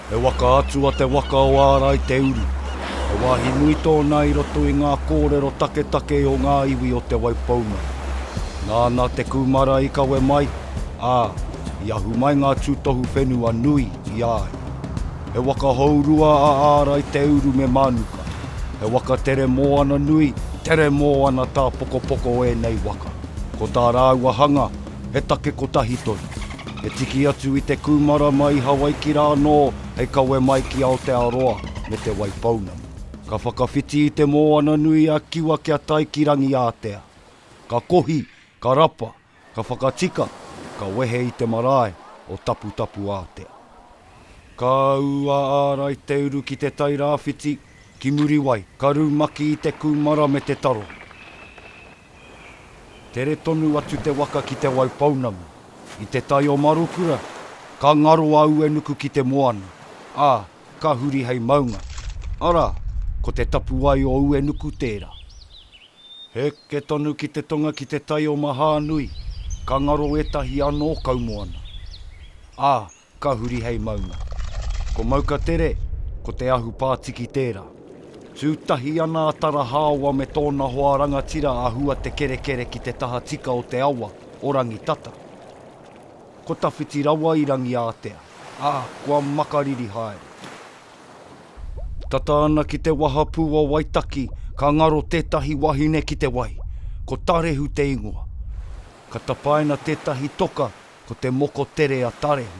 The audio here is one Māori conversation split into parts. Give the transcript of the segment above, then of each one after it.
He waka atua te waka o Ārai Te Uru. He wāhi nui tōna i roto i ngā kōrero taketake o ngā iwi o Te Waipounamu. Nāna te kūmara i kawe mai, ā, I ahu mai ngā tūtohu whenua nui i a ia. He waka hourua a Ārai Te Uru me Mānuka. He waka tere mōana nui, tere mōana tāpokopoko ēnei waka. Ko tā rāua hanga, he take kotahi tonu. He tiki atu i te kūmara mai i Hawaiki rā anō hei kawe mai ki Aotearoa me Te Waipounamu. Ka whakawhiti i te mōana nui a Kiwa kia tae ki Rangiātea. Ka kohi, ka rapa, Ka whakatika, ka wehe i te marae o Taputapuātea. Ka ū a Ārai Te Uru ki Te Tai Rāwhiti, ki Muriwai, ka rumaki i te kūmara me te taro. Tere tonu atu te waka ki Te Wai Pounamu, i Te Tai o Marukura, ka ngaro a Uenuku ki te moana, ā, ka huri hei maunga, arā, ko te tapuwae o Uenuku tērā. Heke tonu ki te tonga ki te tai o Mahānui, ka ngaro ētahi anō kaumoana, ā, ka huri hei maunga. Ko Maukatere, ko Te Ahu Pātiki tērā. Tū tahi ana a Tarahāoa me tōna hoa rangatira a Huatekerekere ki te taha tika o te awa o Rangitata. Ko tawhiti rawa i Rangiātea, ā, kua makariri haere. Tata ana ki te wahapū o Waitaki, ka ngaro tētahi wahine ki te wai. Ko Tarehu te ingoa. Ka tapaina tētahi toka ko te moko tere a Tarehu,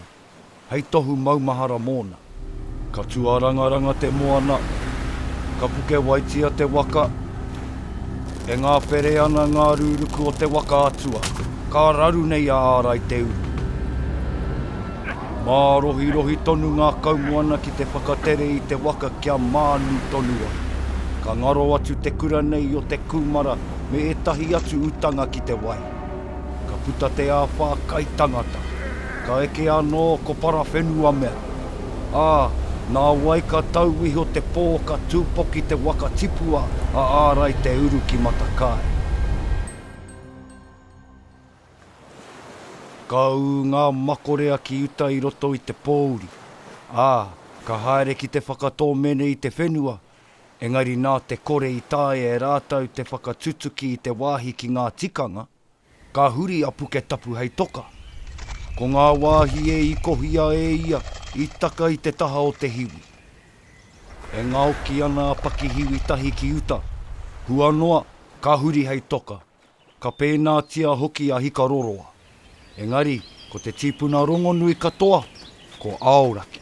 hei tohu maumahara mōna. Ka tuarangaranga te moana, ka pukewaitia te waka, e ngāpere ana ngā rūruku o te waka atua, ka raru nei a Ārai te uru. Mārohirohi tonu ngā kaumoana ki te whakatere i te waka kia mānu tonu ai. Ka ngaro atu te kura nei i o te kūmara me ētahi atu utanga ki te wai. Ka puta te āwhā kai tangata. Ka eke anō ko Parawhenuamea. Ā, nā wai ka tau iho te pō ka tūpoki te waka tipua a Ārai Te Uru ki Matakae. Ka ū ngā makorea ki uta i roto i te pōuri, ā, ka haere ki te whakatōmene i te whenua, engari nā te kore i taea e rātou te whakatutuki i te wāhi ki ngā tikanga, ka huri a Puketapu hei toka. Ko ngā wāhi e ikohia e ia i taka i te taha o te hiwi. E ngaoki ana a Pakihiwi tahi ki uta, hua noa, ka huri hei toka. Ka pēnātia hoki a Hikaroroa, engari ko te tīpuna rongonui katoa ko Aoraki.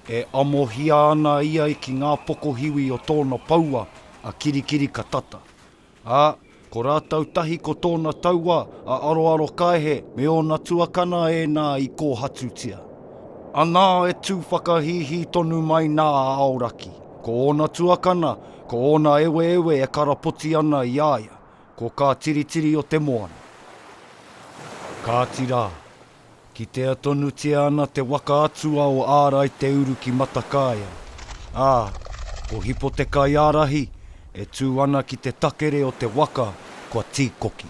E amohia ana ia ki ngā pokohiwi o tōna poua a Kirikirikatata, ā, ko rātou tahi ko tōna taua a Aroarokaehe me ōna tuakana ēnā i kōhatutia. Anā e tū whakahīhī tonu mai nā a Aoraki, ko ōna tuakana Ko ōna eweewe e karapoti ana i a ia, ko kā tiritiri o te moana. Kāti rā, kitea tonutia ana te waka atua o Ārai Te Uru ki Matakaea, ā, ko Hipo Te Kaiārahi e tū ana ki te takere o te waka kua tīkoki.